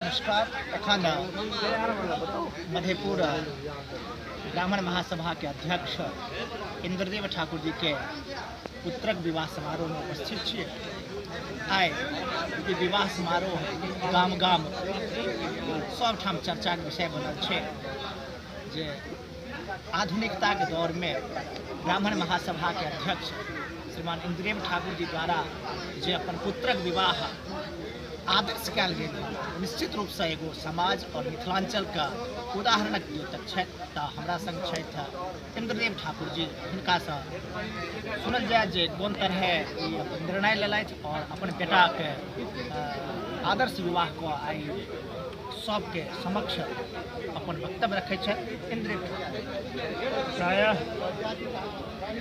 नमस्कार एखन मधेपुर ब्राह्मण महासभा के अध्यक्ष इंद्रदेव ठाकुर जी के पुत्रक विवाह समारोह में उपस्थित छियै आइ ई विवाह समारोह गाम गाम सभठाम चर्चाक विषय बनल छै जे आधुनिकता के दौर में ब्राह्मण महासभा के अध्यक्ष श्रीमान इंद्रेम ठाकुर जी द्वारा जे अपन पुत्रक विवाह आदर्श कयल गेल रहय, निश्चित रूप से एगो समाज और मिथिलांचल का उदाहरणक द्योतक छथि तऽ हमरा संग छथि इंद्रदेव ठाकुर जी हिनका सँ सुनल जाय जे कोन तरहे ई अपन निर्णय लेलथि और अपन बेटा के अ, आदर्श विवाह को आई सबके समक्ष अपन वक्तव्य रखै छथि इन्द्रिय प्रायः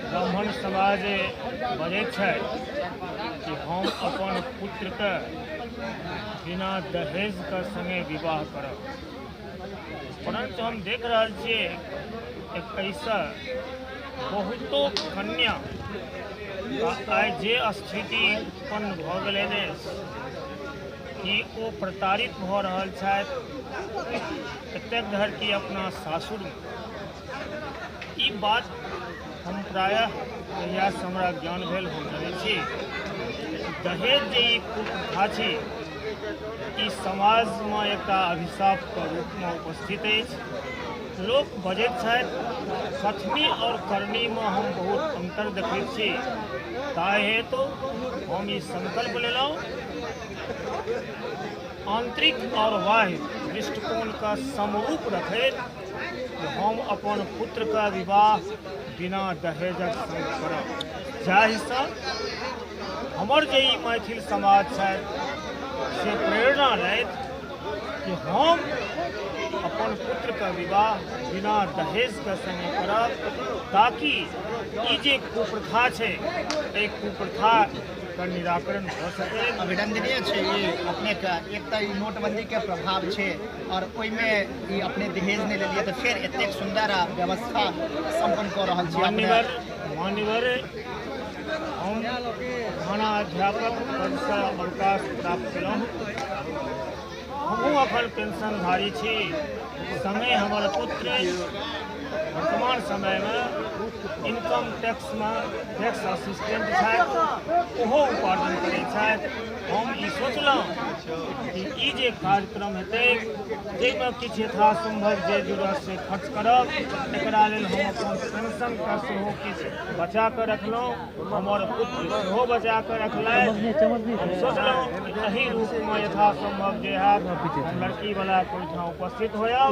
ब्राह्मण समाज बजै छै कि हम अपन पुत्रके बिना दहेजके सङ्गे विवाह करब परन्तु हम देख रहल छियै एकैसँ बहुतो कन्या आइ जे स्थिति उत्पन्न भऽ गेलै कि ओ प्रताड़ित भऽ रहल छथि एतेक धरि कि अपना सासुरमे ई बात हम प्रायः कहियासँ हमरा ज्ञान भेल हम जानै छी दहेज जे ई कुप्रथा छै ई समाजमे एकटा अभिशापके रूपमे उपस्थित अछि लोक बजैत छथि सतमी आओर करनीमे हम बहुत अन्तर देखैत छी ताहि हेतु हम ई सङ्कल्प लेलहुँ आंतरिक और बाह्य दृष्टिकोण का समरूप रखे हम अपन पुत्र का विवाह बिना दहेजक करब जाहिसँ हमर जे ई मैथिल समाज छथि से प्रेरणा लैत कि हम अपन पुत्र का विवाह बिना दहेज के संगे करब ताकि ई जे कुप्रथा छै एहि कुप्रथा एकर निराकरण भऽ सकै अभिनंदनीय छै ई अपनेके एक तऽ ई नोटबंदीके प्रभाव छै आओर ओहिमे ई अपने दहेज नहि लेलियै तऽ फेर एतेक सुन्दर आ व्यवस्था सम्पन्न कऽ रहल छी अपने मान्यवर मान्यवर हम खाना अध्यापक पदसँ अवकाश प्राप्त केलहुँ हमहूँ अखन पेंशनधारी छी समय हमर पुत्र वर्तमान समयमे इनकम टैक्समे टैक्स असिस्टेंट छथि ओहो उपार्जन करै छथि हम ई सोचलहुँ कि ई जे कार्यक्रम हेतै जाहिमे किछु यथासम्भव जे जुड़त से खर्च करब एकरा लेल हम अपन पेंशनके सेहो किछु बचा कऽ रखलहुँ हमर पुत्र सेहो बचा कऽ रखलथि हम सोचलहुँ एहि रूपमे यथासम्भव जे हैत लड़कीवला ओहिठाम उपस्थित होयब